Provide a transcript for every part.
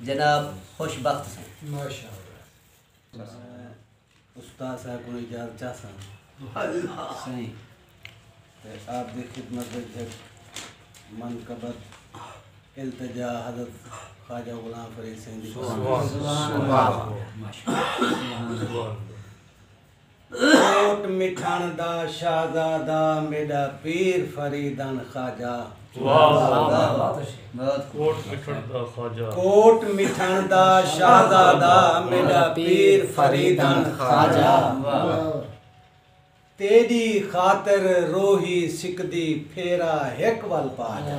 جناب خوش بخت سیں۔ استاد صاحب کو اجازت چاہ سن سائیں تے آپ دی خدمت وچ ہک منقبت التجا حضرت خواجہ غلام فرید سائیں دی سبحان اللہ سبحان اللہ کوٹ مٹھݨ دا شہزادہ میݙا پیر فریدن خواجہ۔ کوٹ مٹھݨ دا شہزادہ میݙا پیر فریدن خواجہ۔ تیݙی خاطر روہی سکدی پھیرا ہک ول پا جا۔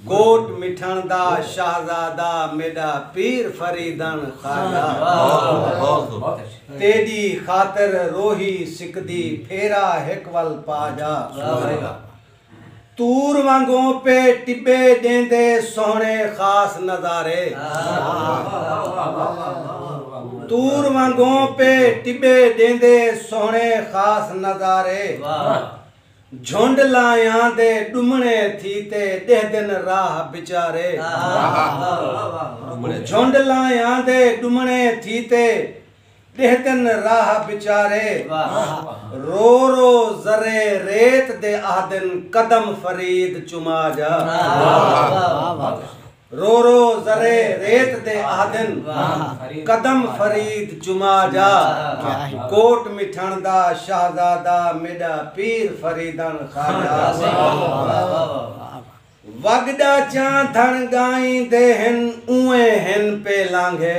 کوٹ مٹھݨ دا شہزادہ میݙا پیر فریدݨ خواجہ تیݙی خاطر روہی سکدی پھیرا ہک ول پا جا طور وانگوں پے ٹٻے ݙیندے سوہݨے خاص نظارے طور وانگوں پے ٹٻے ݙیندے سوہݨے خاص نظارے جھنڈ لایاں دے ݙمݨے تھی تے ݙہدن راہ بچارے۔ جھنڈ لایاں دے ݙمݨے تھی تے ݙہدن راہ بچارے۔ رو رو ذرے ریت دے آہدن قدم فرید چما جا۔ رو رو ذرے ریت دے آہدن قدم فرید چما جا کوٹ مٹھݨ دا شہزادہ میݙا پیر فریدݨ خواجہ وڳ ݙا چاں دھݨ ڳائیں دے ہن اونویں ہن پے لانگھے۔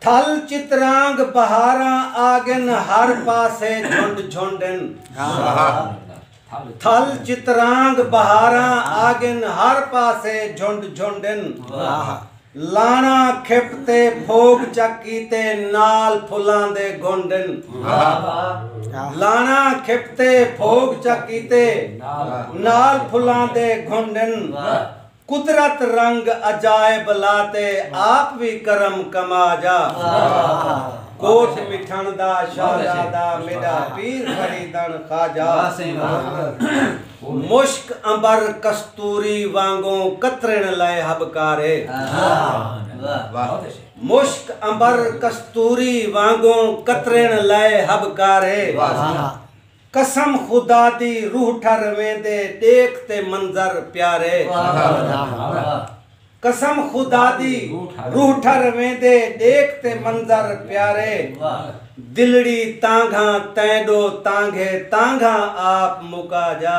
تھل چترانگ بہاراں آگن ہر پاسے جھنڈ جھنڈ ان۔ تھل چترانگ بہاراں آگن ہر پاسے جھنڈ جھنڈ ان۔ لاݨا کھپ تے پھوگ چا کیتے نال پھلاں دے گھنڈ ان۔ لاݨا کھپ تے پھوگ چا کیتے نال پھلاں دے گھنڈ ان۔ قدرت رنگ عجائب لا تے آپ وی کرم کما جا کوس مٹھݨ دا شہزادہ میݙا پیر فریدݨ خواجہ مشک عنبر کستوری وانگوں قطرݨ لئے ہبکارے مشک عنبر کستوری وانگوں قطرݨ لئے ہبکارے قسم خدا دی روح ٹھر ویندے ڈیکھ تے منظر پیارے۔ قسم خدا دی روح ٹھر ویندے ڈیکھ تے منظر پیارے۔ دلڑی تانگھاں تیں ڈو تانگھے تانگھاں آپ مکا جا۔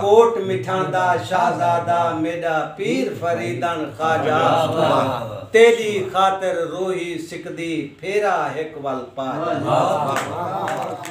کوٹ مٹھاں دا شہزادہ میݙا پیر فریدݨ خواجہ واہ تیݙی خاطر روہی سکدی پھیرا ہک ول پا جاں۔